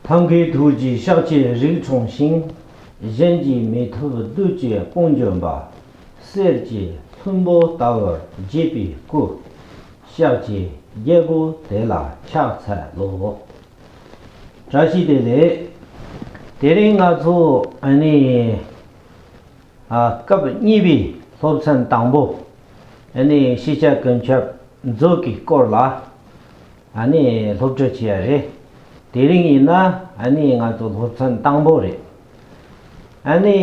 ཐབས་མཁས་ཐུགས་ཀྱི་བཤགས་བཅས་རིགས་མཚུངས་ཤིང། གཞན་གྱིས་མི་ཐུབ་བདུད་བཅས་དཔུང་འཇོམས་པ། གསེར་གྱི་ལྷུན་པོ་ལྟ་བུར་བརྗིད་པའི་སྐུ། བཤགས་བྱའི་རྒྱལ་པོ་དེ་ལ་ཕྱག་འཚལ་ལོ། བཀྲ་ཤིས་བདེ་ལེགས། དེ་རིང་ང་ཚོ་ནི། སྐབས་གཉིས་པའི་སློབ་ཚན་དང་པོ། ཤེས་བྱ་ཀུན་ཁྱབ་མཛོད་ཀྱི་སྐོར་ལ། ཨ་ནི་སློབ་གྲྭ་བྱས་ཡ་རེད། དེ་རིང་ཡིན་ན་ཨ་ནི་ང་ཚོ་སློབ་ཚན་དང་པོ་རེད། ཨ་ནི་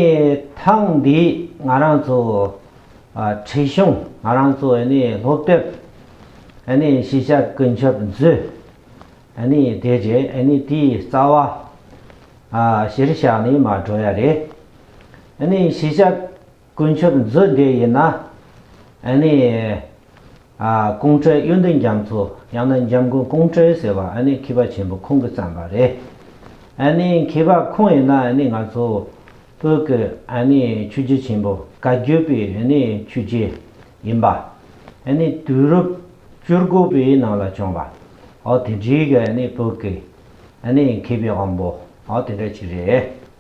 ཐེངས་འདིའི་ང་རང་ཚོ་ཁྲིད་གཞུང་ང་རང་ཚོ་ཨ་ནི་སློབ་དེབ་ཨ་ནི་ཤེས་བྱ་ཀུན་ཁྱབ་མཛོད་ཨ་ནི་དེ་རྗེས་ཨ་ནི་དེའི་རྩ་བ་གཞིར་བཞག་ནས་མ་འགྲོ་ཡ་རེད། ཨ་ནི་ཤེས་བྱ། དཀོན་མཆོག་མཛོད་འདི་ཡིན་ན། ཨ་ནི། ཀོང་ཀྲོའི་གཡོན་དུ་འཇམ་མཚོ་ཡང་ན་འཇམ་མགོན་ཀོང་ཀྲོའི་ཟེར་བ་ཨ་ནི་མཁས་པ་ཆེན་པོ་ཁོང་གིས་བརྩམས་པ་རེད། ཨ་ནི་མཁས་པ་ཁོང་ཡིན་ན་ཨ་ནི་ང་ཚོ་བོད་ཀྱི་ཨ་ནི་ཆོས་རྗེ་ཆེན་པོ་བཀའ་བརྒྱུད་པའི་ཨ་ནི་ཆོས་རྗེ་ཡིན་པ། ཨ་ནི་དུས་རབས་བཅུ་དགུ་པའི་ནང་ལ་བྱུང་བ། ཨོ་དེ་འདྲའི་གི་ཨ་ནི་བོད་ཀྱི་ཨ་ནི་མཁས་པའི་དབང་པོ་ཨོ་དེ་འདྲ་ཅིག་རེད།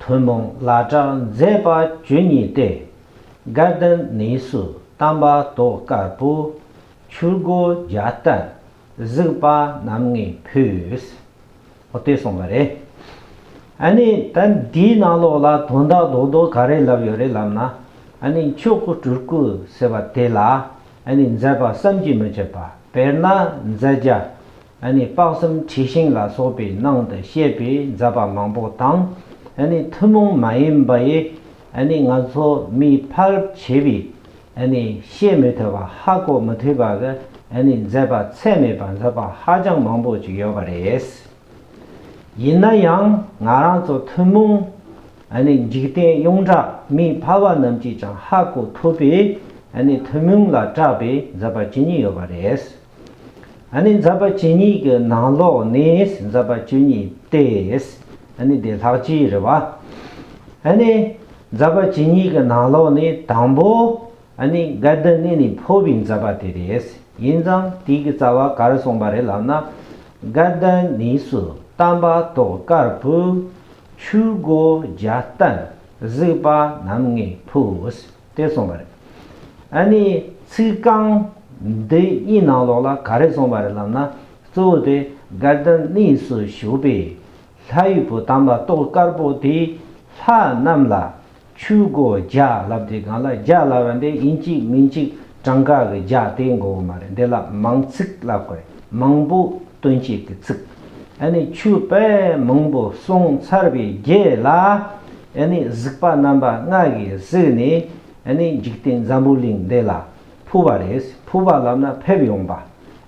ཐུན་མོང་བླ་གྲགས་མཛད་པ་བཅུ་གཉིས་ཏེ། དགའ་ལྡན་གནས་སུ་དམ་པ་ཏོག་དཀར་པོ། ཆུ་སྒོ་རྒྱ་ལྟར་གཟིགས་པ་རྣམ་ངེས་ཕུལ། ཨོ་དེ་སོང་བ་རེད། ཨ་ནི་ད་འདིའི་ནང་ལོགས་ལ་དོན་དག་རྡོག་རྡོག་ག་རེ་ལབ་ཡོད་རེད་ལབ་ན། ཨ་ནི་མཆོག་གི་སྤྲུལ་སྐུ་ཟེར་བ་དེ་ལ་ཨ་ནི་མཛད་པ་བསམ་གྱིས་མི་ཁྱབ་པ་དཔེར་ན་མཛད་རྒྱ། ནི་དཔག་བསམ་འཁྲི་ཤིང་ལ་སོགས་པའི་ནང་དུ་བཤད་པའི་མཛད་པ་མང་པོ་དང། ནི་ཐུན་མོང་མ་ཡིན་པ་ཡི། ནི་ང་ཚོ་མིས་ཕ་རབས་བྱེད་པའི། ནི་བཤད་མི་ཐུབ་པ་ཧ་གོ་མི་ཐུབ་པ་གི། ནི་མཛད་པ་ཚད་མེད་པ་མཛད་པ་ཧ་ཅང་མང་པོ་ཅིག་ཡོད་པ་རེད། ཡིན་ན་ཡང་ང་རང་ཚོ་ཐུན་མོང། ནི་འཇིག་རྟེན་གཡུང་དྲ་མིས་ཕ་བ་རྣམས་ཀྱིས་ཀྱང་ཧ་གོ་ཐུབ་པའི། ནི་ཐུན་མོང་ལ་གྲགས་པའི་མཛད་པ་ཇི་སྙེད་ཡོད་པ་རེད། ནི་འཛབ་པ་བཅུ་གཉིས་ཀྱི་ནང་ལོགས་ནི་འཛབ་པ་བཅུ་གཉིས་ཏེ། ནི་དེ་ལྷག་ཅེའི་རེ་བ། ནི་འཛབ་པ་བཅུ་གཉིས་ཀྱི་ནང་ལོགས་ནི་དང་པོ། ནི་འགལ་ཟླ་ནི་ནི་འཕོ་བའི་འཛབ་པ་དེ་རེད། ཡིན་ཙང་དེའི་གི་རྩ་བ་གར་གསུངས་པ་རེད་ལབ་ན། འགལ་ཟླ་ནི་སུ་བལྟམས་པ་ཏོག་དཀར་བུ། ཆུ་སྒོ་རྒྱ་བལྟམས་གཟིགས་པ་རྣམ་ལྔའི་བུ། བལྟས་སོང་བ་རེད། ཨ་ནི་ཚིག་རྐང་འདི་གཉིས་ནང་ལོགས་ལ་ག་རེ་སོང་བ་རེད་ལབ་ན་གཙོ་བོ་དེ Garden གནས་སུ་བཞུགས་པའི་ལྷ་དབྱུག་པོ་དམ་ལ་ཏོག་དཀར་པོ་དེས་ལྷ་རྣམས་ལ་ཆུ་སྒོ་རྒྱ་ལབ་དེ་སྒང་ལ་རྒྱ་ལབ་བ་འདི་ཡིན་གཅིག་མིན་གཅིག་གྲངས་ཀ་གི་རྒྱ་དེ་མགོ་བོ་མ་རེད་འདི་ལ་མང་ཚིག་ལབ་དགོས་རེད་མང་པོ་སྟོན་བྱེད་ཀྱི་ཚིག་ཨ་ནི་ཆུ་བལ་མང་པོ་སོང་ཚར་བའི་རྗེས་ལ། ཡང་ནི་གཟིགས་པ་རྣམ་པ་ལྔ་གིས་གཟིགས་ནས་ཡང་ནི་འཇིག་རྟེན་འཛམ་བུ་གླིང་འདི་ལ་ཕུལ་བ་རེད་ཕུལ་བ་ལབ་ན་ཕེབས་ཡོང་པ་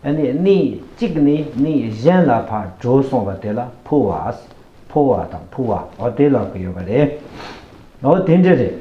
ཡང་ནི་གནས་གཅིག་ནས་གནས་གཞན་ལ་ཕར་བྲོས་སོང་བ་དེ་ལ་ཕུལ་བ་ཕོ་བ་དང་ཕུལ་བ་འོ་དེ་ལབ་ཀྱི་ཡོད་པ་རེད་འོ་དེ་འདྲ་རེད།